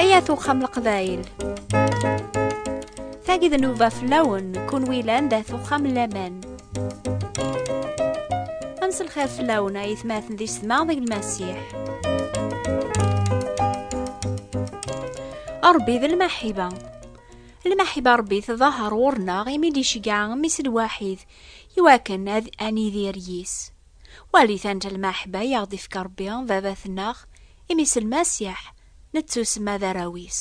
Ayat uxxam leqbayel Tagi d nuba fell-awen kun wilan d at uxxam laman Ans lxir fell-awen ay tmaten di setma deg lmasiḥ Ṛebbi d lmaḥiba Lmaḥiba n Ṛebbi tḍaher ɣur-neɣ imi d-iceggeɛ Mmi-s lwaḥid i wakken ad nidir yis. Walit anta lmaḥiba i aɣ-d-ifka Ṛebbi, Baba-tneɣ, imi s Lmasiḥ nettusemma d arraw-is.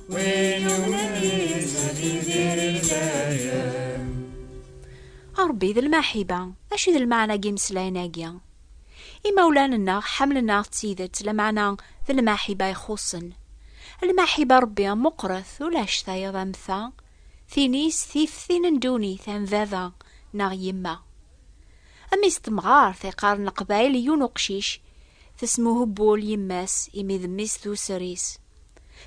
Ṛebbi d lmaḥiba, acu d lmeɛna n yimeslayen-agi? Imawlan-nneɣ ḥemmlen-aɣ d tidet, lameɛna d lmaḥiba ixuṣṣen. Lmaḥiba n Ṛebbi meqqret, ulac tayeḍ am ta, tin-is tif tin n ddunit, am baba neɣ yemma. Mmi-s n temɣart i qqaren Leqbayel i yiwen uqcic, tesmuhubbul yemma-s imi d mmi-s d user-is.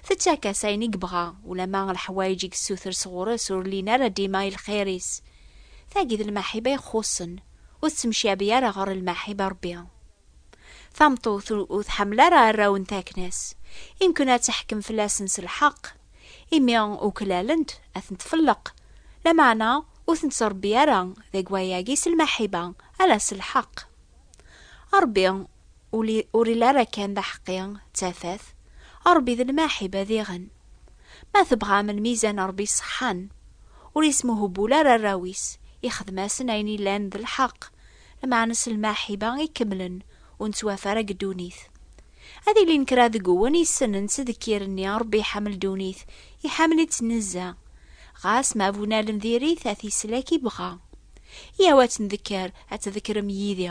Tettak-as ayen i yebɣa, ulamma leḥwayeǧ i yessuter sɣur-s ur llin ara dima i lxir-is. Tagi d lmaḥiba ixuṣṣen, ur tettemcabi ara ɣer lmaḥiba Ṛebbi. Tameṭṭut ur tḥemmel ara arraw n takna-s, imken ad teḥkem fell-asen s lḥeqq, imi uklalen-t ad ten-tfelleq, lameɛna ur ten-tettṛebbi ara deg wayagi s lmaḥiba, ala s lḥeqq. Ṛebbi ur ili ara kan d aḥeqqi d tafat, Ṛebbi d lmaḥiba diɣen. Ma tebɣam lmizan n Ṛebbi ṣeḥḥan, ur ismuhbul ara arraw-is, ixdem-asen ayen yellan d lḥeqq, lmeɛna s lmaḥiba ikemlen, ur nettwaf ara deg ddunit. Ad ilin kra deg-wen yessnen ttdekkir-nni, Ṛebbi iḥemmel ddunit, iḥemmel-itt nezzeh, ɣas ma bu-nalen diri-t a t-islek ibɣa. Yyaw ad tt-ndekker, ad tdekkrem yid-i.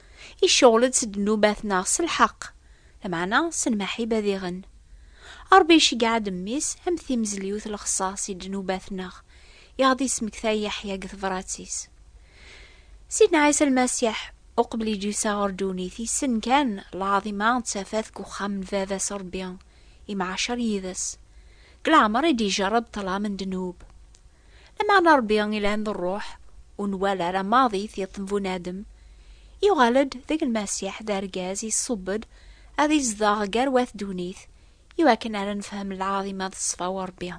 Iceɣl-d s ddnubat neɣ s lḥeqq, lameɛna s lmaḥib ad iɣen. Ṛebbi iceggeɛ-d Mmi-s am timezliwt lexṣaṣ i ddnubat-nneɣ, i ɣ-d-yesmekta Yeḥya deg tebṛat-is. Sidna Ɛisa Lmasiḥ, uqbel i d-yusa ɣer ddunit, yessen kan lɛaḍima d tafat deg uxxam n Baba-s Ṛebbi, imɛacer yid-s. Deg leɛmeṛ i d-ijerreb ṭṭlam n ddnub. Lameɛna Ṛebbi ilhan d ṛṛuḥ, ur nwala ara maḍi tiṭ n bunadem. Yuɣal-d deg Lmasiḥ d argaz iṣṣub-d ad izdeɣ gar wat ddunit, iwakken ara nefhem lɛaḍima d ṣṣfa n Ṛebbi.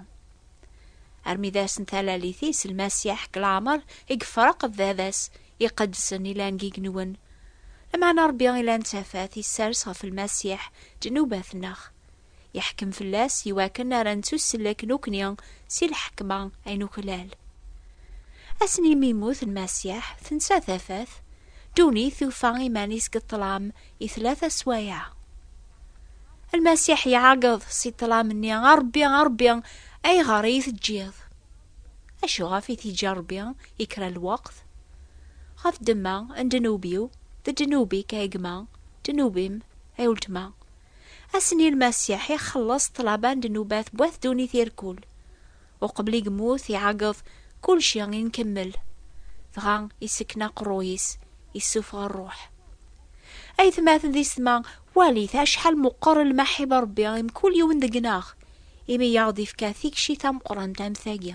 Armi d ass n talalit-is, Lmasiḥ deg leɛmeṛ i yefreq d Baba-s iqedsen ilan deg igenwen. Lameɛna Ṛebbi ilan d tafat, isers ɣef Lmasiḥ ddnubat-nneɣ. yeḥkem fell-as i wakken ara nettussellek nekkni si lḥekma ay nuklal. Ass-n imi yemmut Lmasiḥ, tensa tafat, ddunit tufa iman-is deg ṭṭlam i tlata sswaya. Lmasiḥ iɛeggeḍ si ṭṭlam-nni, A Ṛebbi, a Ṛebbi, ayɣer i yi-teǧǧiḍ? Acu ɣef i t-yeǧǧa Ṛebbi i kra n lweqt? Ɣef ddemma n ddnub-iw, d ddnub-ik ay gma, ddnub-im ay weltma. Ass-nni Lmasiḥ ixelleṣ ṭṭlaba n ddnubat n wat ddunit i rkul. Uqbel i yemmut iɛeggeḍ kulci i nkemmel. Dɣa issekken aqerruy-is, issufeɣ rruḥ. Aytmaten d isetma, walit acḥal meqqer lmaḥib n Rebbi i mkul yiwen deg-neɣ, imi i aɣ-d-ifka tikci tameqqrant am tagi.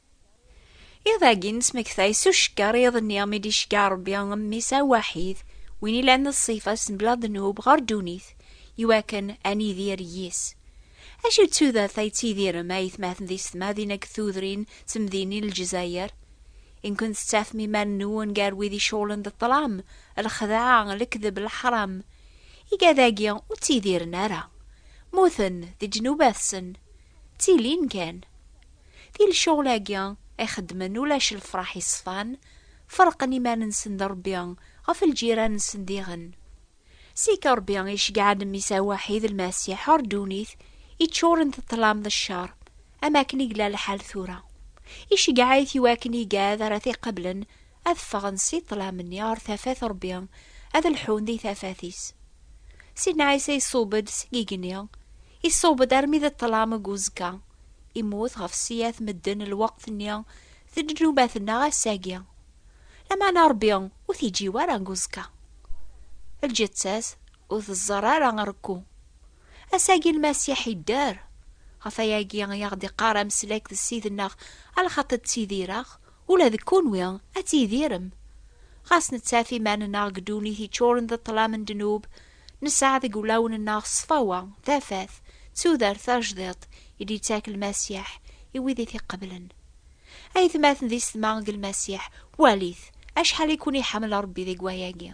Iḍ-agi nesmektay s ucekker iḍ-nni mi d-icegga Rebbi mmi-s awaḥid, win ilan ṣṣifa s mebla ddnub ɣer ddunit, iwakken ad nidir yis. Acu d tudert ay ttidirem a aytmaten di setmadin akked tudrin d temdinin n Lezzayer? In kunt tettafem iman-nwen gar wid iceɣlen d ṭṭlam, lexdeɛ, lekdeb, leḥram? Igad-agi ur ttidiren ara. Mmuten di ddnubat-sen. Ttilin kan. Di lecɣal-agi ay xeddmen ulac lefraḥ yeṣfan, ferqen iman-nsen d Rebbi ɣef lǧiran-nsen diɣen. Seg Rebbi i ceggɛen Mmi-s aweḥid Lmasiḥ ɣer ddunit yeččuren d ṭṭlam d ccer, am akken i yella lḥal tura. Iceggeɛ-it i wakken igad ara t-iqeblen ad ffɣen si ṭṭlam-nni ɣer tafat Rebbi, ad lḥun di tafat-is. Sidna Ɛisa iṣub-d seg igenni, Iṣubb-d armi d ṭṭlam deg uzekka. Immut ɣef ssiyat medden lweqt-nni d ddnubat-nneɣ ass-agi. Lameɛna Ṛebbi ur t-iǧǧi wara deg uzekka. Lǧetta-s ur teẓẓar ara arekku. Ass-agi Lmasiḥ idder. Ɣef wayagi i aɣ-d-iqqar ameslak d Ssid-nneɣ alxaṭi ttidireɣ Ula d kunwi ad tidirem. Ɣas nettaf iman-nneɣ deg ddunit yeččuren d ṭṭlam n ddnub, nesɛa deg wulawen-nneɣ ṣṣfawa, tafat, d tudert tajdiṭ i d-yettak Lmasiḥ i wid i t-iqeblen. A yetmaten di setma deg Lmasiḥ, walit acḥal i ken-iḥemmel Ṛebbi deg wayagi!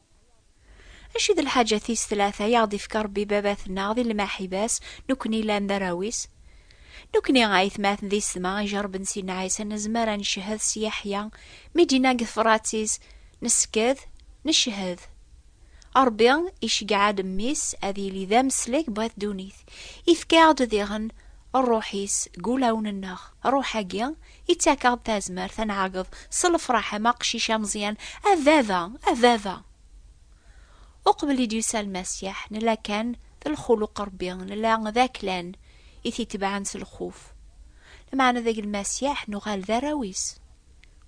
Acu d lḥaǧa tis tlata i aɣ-d-ifka Rebbi Babat-nneɣ di lmaḥiba-s, nekkni llan d arraw-is? Nekkni, ayetmaten d isetma, ijerben Sidna Ɛisa, nezmer a ncehhed s Yeḥya mi d-yenna deg tefrat-is, Nesked, necehhed. Rebbi iceggeɛ-d Mmi-s ad yili d ameslek bu at ddunit. Ifka-aɣ-d diɣen Rruḥ-is deg ulawen-nneɣ. Rruḥ-agi, Ittakeɣ-d tazmert ad nɛeggeḍ s lefraḥ am aqcic ameẓyan, A baba! A baba! Uqbel i d-yusa Lmasiḥ, nella kan d lxuluq Rebbi, nella d aklan i t-itebɛen s lxuf. Lmeɛna deg Lmasiḥ nuɣal d arraw-is.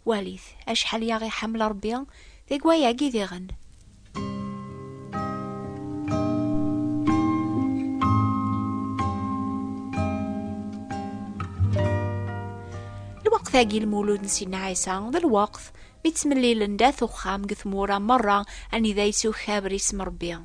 Walit acḥal i aɣ-iḥemmel Rebbi deg wayagi diɣen! tagi lmulud n Sina Ɛisa d lweqt mi ttmellilen dat uxxam deg tmura merra anida yessukaber isem Rebbi.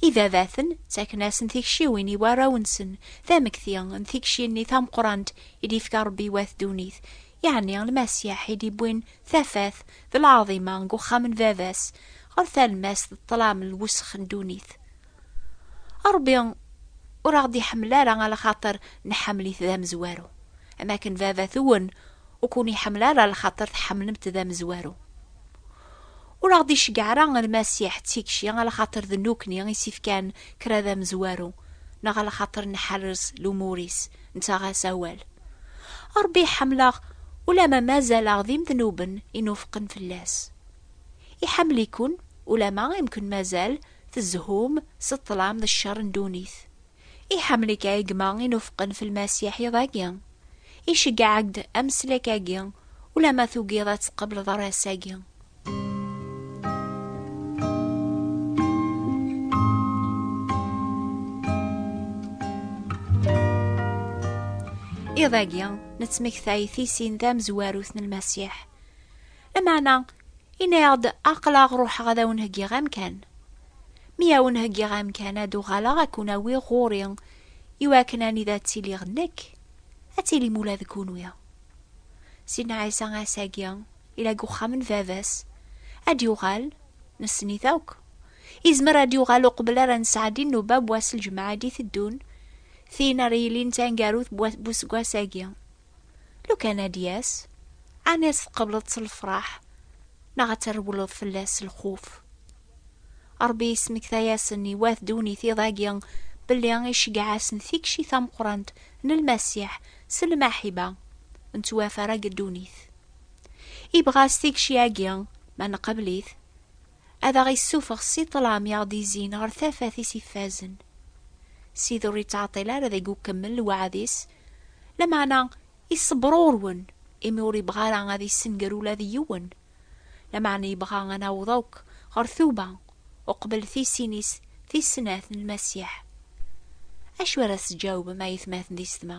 Ibabaten ttaken-asen tikciwin i warraw-nsen tamekti n tikci-nni tameqrant i d-yefka Rebbi wat ddunit yeɛni lmasiḥ i d-iwwin tafat d lɛaḍima deg uxxam n baba-s ɣer talmast d ṭṭlam n lwesx n ddunit. Ṛebbi ur aɣ-d-iḥemmel ara a lxaṭer nḥemmel-it d amezwaru, am akken baba-twen ur ken-iḥemmel ara a lxaṭer tḥemmlem-t d amezwaru. Ur aɣ-d-iceggeɛ ara Lmasiḥ d tikci ɣer lxaṭer d nukni i s-ifkan kra d amezwaru, neɣ ɣer lxaṭer nḥerrez lumur-is, nettaɣ-as awal. Ṛebbi iḥemmel-aɣ ulamma mazal-aɣ d imednuben inufqen fell-as. Iḥemmel-iken ulamma imken mazal tezhum s ṭṭlam d cceṛ n ddunit. Iḥemmel-ik a gma inufqen f lmasiḥ iḍ agi. Iceggeɛ-ak-d ameslek agi ulama tugiḍ ad tqebleḍ aras agi. Iḍ agi nettmektay tisin tamezwarut n lmasiḥ. Lameɛna, yenna-aɣ-d, Aql-aɣ ruḥeɣ ad awen-heggiɣ amkan. Mi awen-heggiɣ amkan, ad uɣaleɣ ad ken-awiɣ ɣur-i, i wakken anida ttiliɣ nekk, ad tilim ula d kunwi. Sidna Ɛisa ass-agi yella deg uxxam n Baba-s. Ad d-yuɣal, nessen-it akk. Yezmer ad d-yuɣal uqbel ara nesɛeddi nnuba n wass n lǧemɛa i d-iteddun, tin ara yilin d taneggarut n useggas-agi. Lukan ad d-yas, ɛni ad tqebleḍ s lefraḥ neɣ ad trewleḍ fell-as s lxuf? Ṛebbi yesmekta-yasen i wat ddunit iḍ-agi belli iceggeɛ-asen tikci tameqqrant n Lmasiḥ s lmaḥiba n ttwafarag n ddunit. Ibɣa s tikci-agi, ma nqabel-it, ad aɣ-issufeɣ si ṭṭlam i aɣ-d-izzin ɣer tafat-is ifazen. Sidi ur yettɛeṭṭil ara deg ukemmel lweɛd-is, lameɛna iṣebber ɣur-wen, imi ur yebɣi ara ad yessenger ula d yiwen, lameɛna yebɣa ad naweḍ akk ɣer tuba uqbel tisin-is tis snat n Lmasiḥ. Acu ara s-tǧawbem a yatmaten di setma?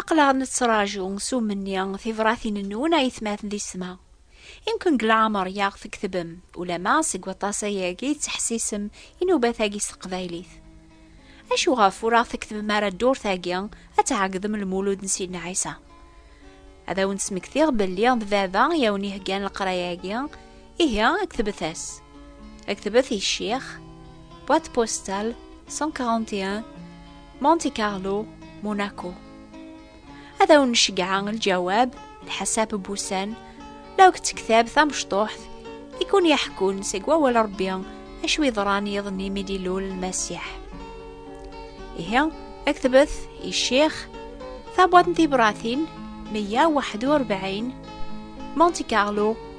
Aql-aɣ nettraǧu s umenni tibratin-nwen ay tmaten di ssma. Imken deg leɛmer i aɣ-tkettbem, ulamma seg waṭas ayagi tettḥessisem inubat-agi s teqbaylit. Acu ɣef ur aɣ-tkettbem ara ddurt-agi ad tɛeggdem lmulud n Sidna Ɛisa? Ad awen-d-smektiɣ belli d Baba i awen-iheggan leqraya-agi, Ihi, ktebet-as. Ktebet i ccix, boîte postale 141 Monte Carlo, Monaco. Ad awen-nceggeɛ lǧawab, lḥasab n wussan, la ak-d-tektab tamecṭuḥt i kun-yeḥkun seg wawal Rebbi acu yeḍran yiḍ-nni mi d-ilul Lmasiḥ. Ihi, ktebet i ccix, tabwaḍt n tibratin 141 Monte Carlo,